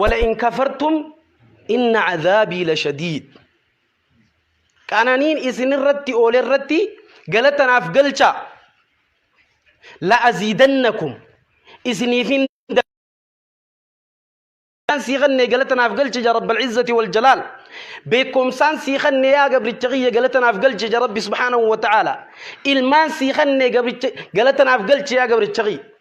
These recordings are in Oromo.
wala in kafartum inna cadaabii la shadiid qananiin isin irratti oole irratti galatanaaf galcha la aziidannakum isiniifin beekumsaan sii kennee galatanaaf galche ja rabbal izzati wal jalaal beekumsaan sii kennee yaa gabricha kiyya galatanaaf galche ja rabbi subhaanahu wa ta'aala ilmaan sii kennee gabricha galatanaaf galche yaa gabricha kiyya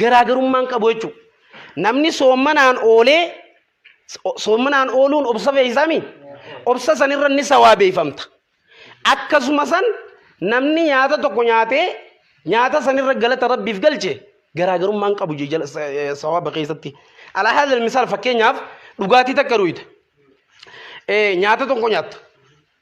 garaagarummaan qabu jechuudha. Namni soommanaan oolee soommanaan ooluun obsa fe'isaami. Obsa sanirra ni sawaabeeffamta. Akkasuma san namni nyaata tokko nyaatee nyaata sanirra galata rabbiif galche garaagarummaan qabu sawaaba keessatti. Alaa haadha misaal fakkeenyaaf dhugaatii takka dhuyita. Nyaata tokko nyaatta.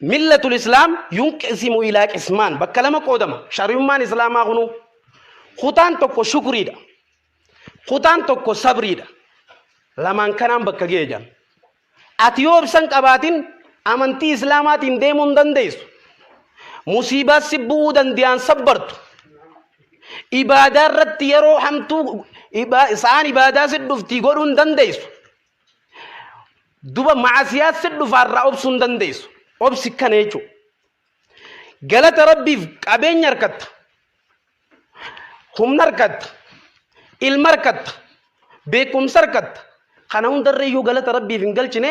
Millatul Islaam yunqisimu ilaa qismaan bakka lama qoodama. Shari'ummaan Islaamaa kunuu kutaan tokko shukriidha. Kutaan tokko sabriidha. Lamaan kanaan bakka ga'e jedhan. Ati yoo ibsan qabaatin amantii Islaamaatiin deemuu hin dandeessu. Musiibaa si bu'uu danda'an sabbartu. Ibaadaa irratti yeroo hamtuu ibaa- isaan ibaadaa si dhuftii godhuu hin dandeessu. duba maasiyaa si dhufaa irraa obsuu hin dandeessu obsi kana jechuudha galata rabbiif qabeenya harkatta humna harkatta ilma harkatta beekumsa harkatta kana hundarra iyyuu galata rabbiif hin galchine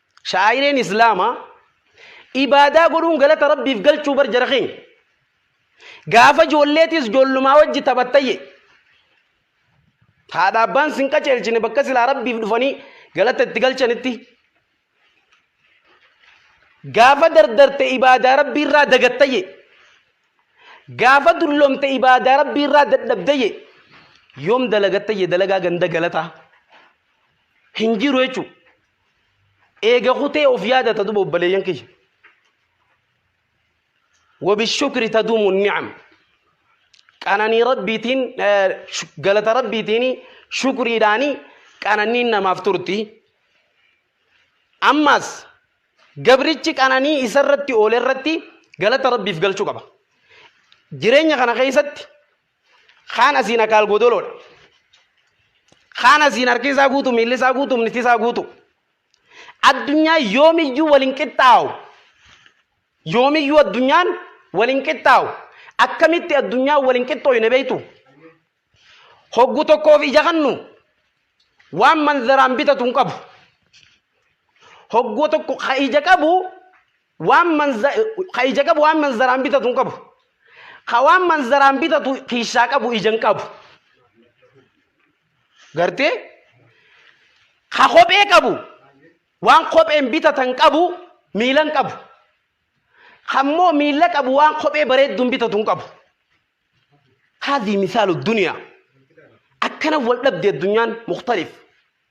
Shaa'ireen Islaamaa ibaadaa godhuun galata Rabbiif galchuu bar jara keenya. Gaafa ijoolleetis ijoollumaa wajji taphattayye. Haadha abbaan sin qaceelchine bakka silaa Rabbiif dhufanii galata itti galchanitti. Gaafa dardarte ibaadaa Rabbii irraa dagattayye. Gaafa dullomte ibaadaa Rabbii irraa dadhabdayye. Yoom dalagattayye dalagaa ganda galataa. Hin jiru jechuudha. eega kutee of yaadata duba obbaleeyyan kiyya wabishukri taduumu ni'am qananii rabbiitiin galata rabbiitiin shukriidhaani qananiin namaaf turti ammaas gabrichi qananii isarratti oole irratti galata rabbiif galchuu qaba jireenya kana keessatti Kaan asiin akaal godoloodha. Kaan asiin harki isaa guutu, miilli isaa guutu, humni isaa guutu. Addunyaa yoomiyyuu wal hin qixxaawu. Yoomiyyuu addunyaan wal hin qixxaawu. Akkamitti addunyaa wal hin qixxooyne beektu? Hoggu tokkoof ija kannu waan manzaraan bitatu hin qabu. Hoggoo tokko ka ija qabu Waan manza ka ija qabu waan manzaraan bitatu hin qabu. Ka waan manzaraan bitatu kiishaa qabu ija hin qabu. Gartee? Ka kophee qabu waan kopheen bitatan qabu miila hin qabu. Ka immoo miila qabu waan kophee bareedduun bitatu hin qabu. Haadhi misaalu duniyaa. Akkana wal dhabde addunyaan muktalif.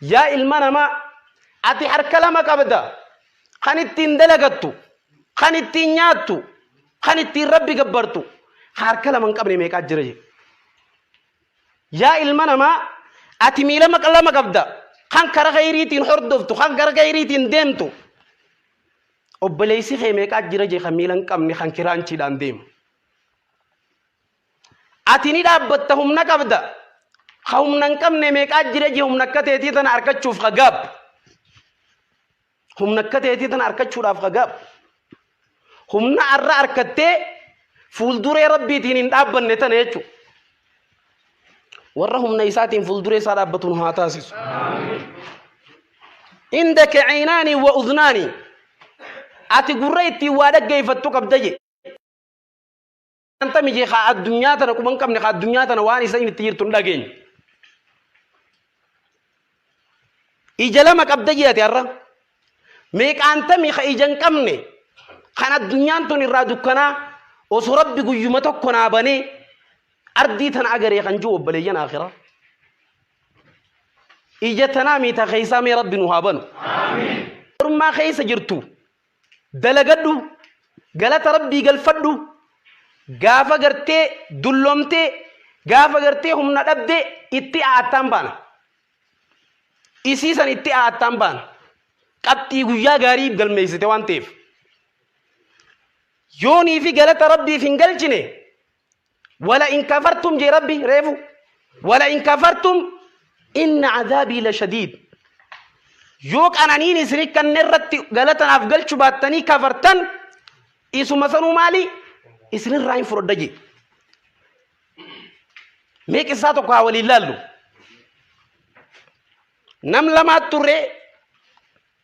Yaa ilma namaa! Ati harka lama qabda. Kan ittiin dalagattu, kan ittiin nyaattu, kan ittiin Rabbi gabbartu. Kan harka lama hin qabne meeqaa jira jedhe. Yaa ilma namaa! Ati miila maqa lama qabda. Kan kara khayriitiin hordoftu, kan gara khayriitiin deemtu. Obboleessi kee meeqaa jira jedhe kan miila hin qabne kan kiraanchiidhaan deemu. Ati ni dhaabbatta humna qabda. Ka humna hin qabne meeqaa jira je humna akka teetii tana arkachuuf ka gaab. Humna akka teetii tana arkachuudhaaf ka gaab. Humna arra arkattee fuulduree rabbiitiin hin dhaabbanne tana jechuudha. Warra humna isaatiin fuulduree isaa dhaabbatuun haa taasisu. Inda ka'inaanii wa udnaanii. Ati gurra ittiin waa dhaggeeffattu qabda je. Wanta miti haa addunyaa tana quban qabne haa addunyaa tana waan isa itti jirtu hin dhageenye. Ija lama qabda jedhate har'a. Meeqaantamii ka ija hin qabne kan addunyaan tun irraa dukkanaa osoo rabbi guyyuma tokko naa banee ardii tana agaree kan jiru obboleeyyan akhiraa. Ija tanaa miita keessaa mee rabbi nu haa banu. Ormaa keessa jirtu. dalagadhu galata rabbii galfadhu gaafa gartee dullomtee gaafa gartee humna dhabdee itti a'attaan baana isii san itti a'attaan baana qabxii guyyaa gaarii galmeessite waan ta'eef yoonii fi galata rabbiif hin galchine Wala in kafartum jee rabbi reefu. Wala in kafartum inna azaabii la shadiid. Yoo qananiin isin kanne irratti galatanaaf galchu baattanii kafartan isuma sanuu maali isinirraa hin fudhadha jee. Mee qissaa tokko haa waliin laallu. Nam lamaat turre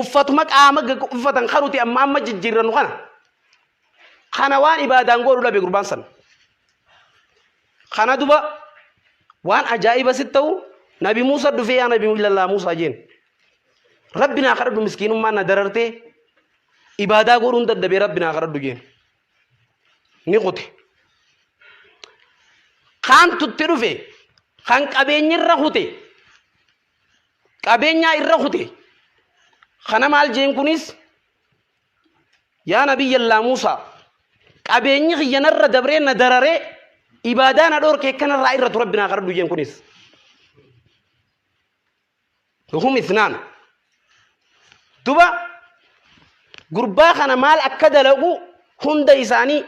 uffatuma qaama uffatan kanuti amma amma jijjiirrannu kana kana waan ibaadaan godhu dhabe gurbaan san kana duba waan ajaa'iba sitti ta'u nabi Muusa dhufee yaa nabi illallah Muusa jeen rabbi naa kadhadhu miskiinummaan na darartee ibaadaa godhuun dadhabee rabbi naa kadhadhu jeen ni kute kaan tutti dhufe kan qabeenyirra kute qabeenyaa irra kute kana maal jeen kunis yaa nabiyyallaa muusaa qabeenyi kiyya narra dabree na dararee ibaadaa na dhoorke kanarraa irra tu rabbi naa kadhadhu jeen kunis hum isnaan duba gurbaa kana maal akka dalagu hunda isaanii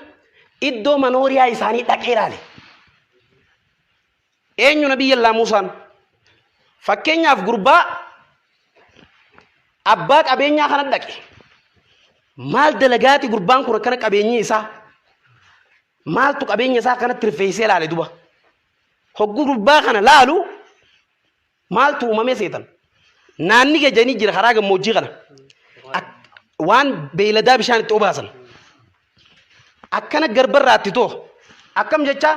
iddoo manooriyaa isaanii dhaqee ilaale Eenyu Nabiyyallaa Muusaan? Fakkeenyaaf gurbaa abbaa qabeenyaa kana dhaqe. Maal dalagaati gurbaan kun akkana qabeenyi isaa? Maaltu qabeenya isaa kanatti rifeessee laale duba? Hogguu gurbaa kana laalu maaltu uumamee seetan? Naanni gajanii jira karaa gammoojjii kana. Waan beeyladaa bishaan itti obaasan. Akkana garbarraatti too akkam jechaa?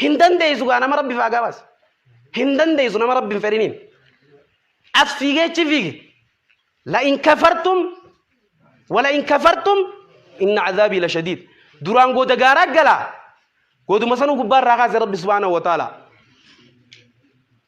Hin dandeessu gaa nama rabbi faagaa baase. Hin dandeessu nama rabbi hin fedhiniin. As fiigee achi fiigi. La in kafartum wala in kafartum inna azaabii la shadiid. Duraan goota gaaraa galaa. Gootuma sanuu gubbaa irraa kaase rabbi subhaanahu wa ta'ala.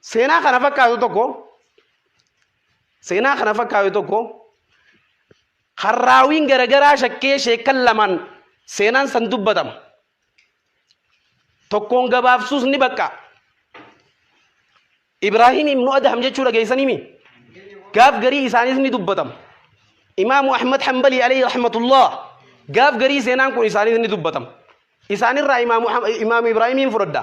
Seenaa kana fakkaatu tokko seenaa kana fakkaatu tokko kan raawiin garagaraa shakkee sheekan lamaan seenaan san dubbatama. Tokkoon gabaabsuus ni bakka. Ibraahim ibnu Adham jechuu dhageessanimi. Gaaf garii isaaniis ni dubbatama. Imaamu Ahmad Hanbalii alayhi rahmatullah gaaf garii seenaan kun isaaniis ni dubbatama. Isaanirraa imaamu Ibraahimiin fudhadha.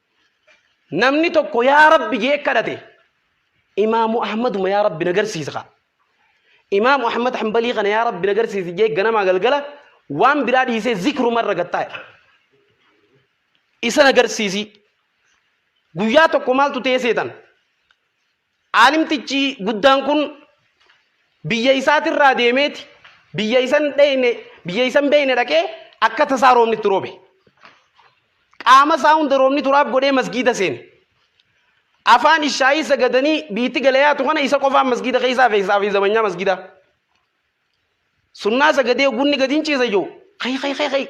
namni tokko yaa rabbi jee kadhate imaamu ahmaduma yaa rabbi na garsiisa ka imaamu ahmad hanbalii kana yaa rabbi na garsiisi jee ganamaa galgala waan biraa dhiisee zikruma irra gattaa'e isa na garsiisii guyyaa tokko maaltu ta'ee seetan Aalimtichi guddaan kun biyya isaatirraa deemeeti biyya isan dheyne biyya isan beeyne dhaqee akka tasaa roobni itti roobe. Qaama isaa hunda roobni turaab godhee masgiida seene. Afaan ishaayii sagadanii biitti galayaatu kana isa qofaan masgiida keessaa feesaa fi zabanyaa masgiidaa. Sunnaa sagadee gunni gadi hin ciisa jiru. Kai kai kai kai.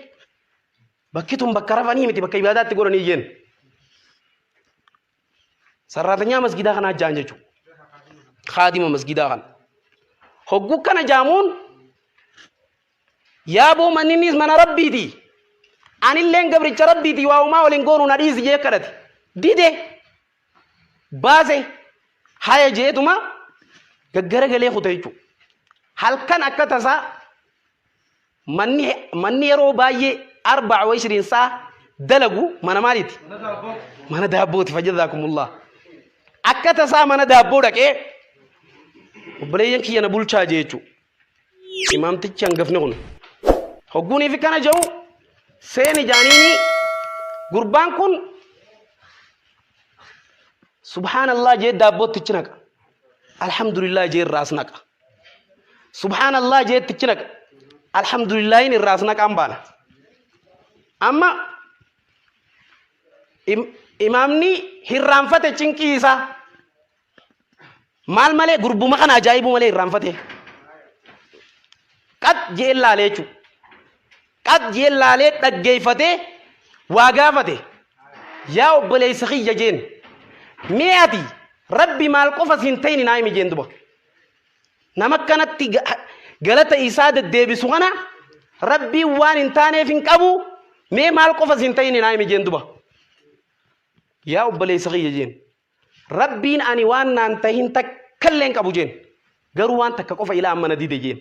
Bakki tun bakka rafanii miti bakka ibaadaatti godhanii jenna. Sarraatanyaa masgidaa kanaa jaan jechuudha. Kaadima masgidaa kana. Hogguu kana jaamuun yaaboo manninnis mana rabbiiti. Anilleen gabricha rabbiiti waa uumaa waliin goonu na dhiisi jee kadhate. Dide baase haya jeetuma gaggara galee kuta jechuudha. Halkan akka tasaa Manni, manni yeroo baay'ee arba'a wa ishiriin saa dalagu mana maaliiti? Mana daabbooti fajjazaakumullah. Akka tasaa mana daabboo dhaqee obboleeyyan kiyya na bulchaa jee jechuudha. Imaamtichi hangafni kun. Hogguunii fi kana jedhu seeni jaaniini gurbaan kun subhaanallah jee daabbootti ichi naqa. Alhamdulillah jee irraas naqa. Subhaanallah jeetti ichi naqa. Alhamdulillaahin irraas naqaan baana. Amma im- imaamni hirraanfate cinqii isaa maal malee gurbuma kana ajaa'ibuu malee hirraanfate. Qat je'een laalee jechuudha. Qat je'een laalee dhaggeeffatee waa gaafate. Yaa obboleessa kiyya jeen. Mee ati rabbi maal qofa siin ta'in naa himi jeen duba. nama kanatti galata isaa deddeebisu kana rabbiin waan hin taaneef hin qabu mee maal qofa siin ta'in hin haimi jeen duba yaa obboleessa kiyya jeen rabbiin ani waan naan tahin takkallee hin qabu jeen garuu waan takka qofa ilaa amma na dide jeen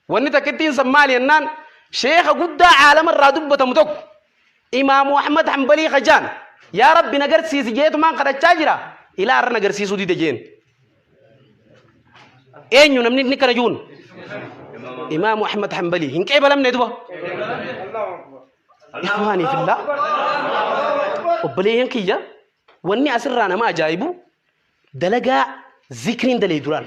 Wanni takkittiin san maali jennaan sheekha guddaa caalama irraa dubbatamu tokko imaamu Ahmad Hanbalii kajaan yaa rabbi na garsiisi jeetumaan kadhachaa jira ilaa har'a na garsiisuu dide jeen. Eenyu namni inni kana juun? Imaamu Ahmad Hanbalii hin qeebalamne duba. Ikhwaanii fillaa obboleeyyan kiyya wanni asirraa nama ajaa'ibu dalagaa zikriin dalee duraan